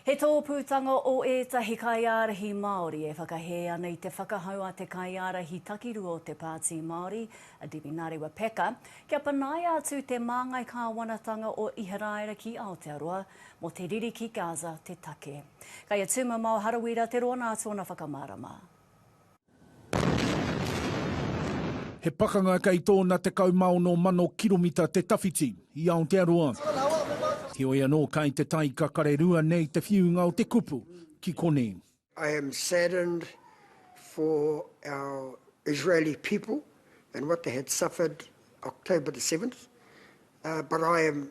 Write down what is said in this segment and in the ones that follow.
He tōpūtanga o ētahi kaiārahi Māori e whakahē ana i te whakahau a te kaiārahi takirua o te Pāti Māori, a Debbie Narewa Packer, kia panaia atu te māngai kāwanatanga o Iharaira ki Aotearoa mō te riri ki Gaza te take. Kei a Tūmamao Harawira te rōnā tōna whakamārama. He pakanga kei tōna 16,000 kiromita te tawhiti i Aotearoa. Heoi anō, kai te tai kakare rua nei te whiunga o te kupu ki konei. I am saddened for our Israeli people and what they had suffered October the seventh, but I am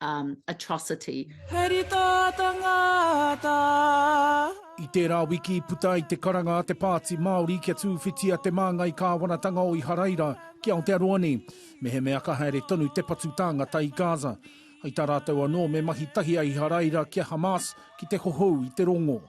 atrocity. He rita ta ngata I tērā wiki i puta ai te karanga a te Pāti Māori kia tūwhitia te māngai kāwanatanga o Iharaira ki Aotearoa nei, mehemea ka haere tonu te patu tāngata i Gaza. Hei tā rātou anō me mahi tahi a Iharaira ki a Hamas ki te hohou i te rongo.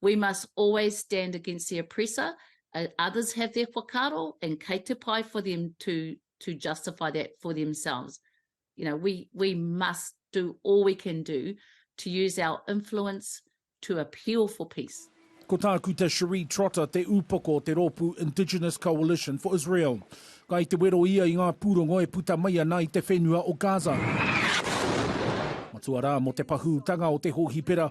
We must always stand against the oppressor, others have their whakaaro and kei te pai for them to justify that for themselves. You know, we must do all we can do to use our influence to appeal for peace. Ko tāku te Cherie Trotter, te upoko o te rōpū Indigenous Coalition for Israel. Kai te wero ia i ngā pūrongo e puta mai ana i te whenua o Gaza. Matua rā mō te pahūtanga o te hōhipera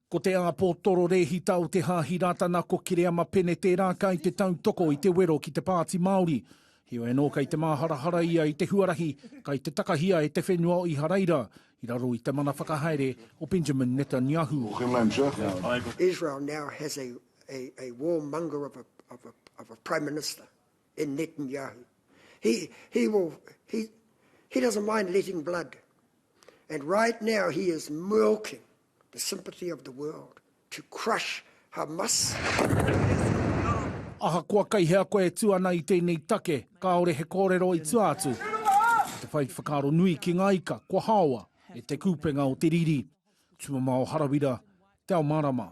Ko te āpōtoro rēhita o Te Haahi Rātana ko Kereama Pene tērā kai te tautoko i te wero ki te Pāti Māori. Heoi anō kai te māharahara ia i te huarahi kai te takahia e te whenua o Iharaira i raro i te mana whakahaere o Benjamin Netanyahu. Israel now has a a war monger of a of a of a prime minister in Netanyahu. He he will he he doesn't mind letting blood and right now he is milking the sympathy of the world, to crush Hamas. Ahakoa kei hea koe e tū ana i tēnei take, kāore he kōrero i tua atu. Ko te whai whakaaro nui ki ngā ika, kua haoa e Te Kupenga o te Riri, Tumamao Harawira, Te Ao Marama.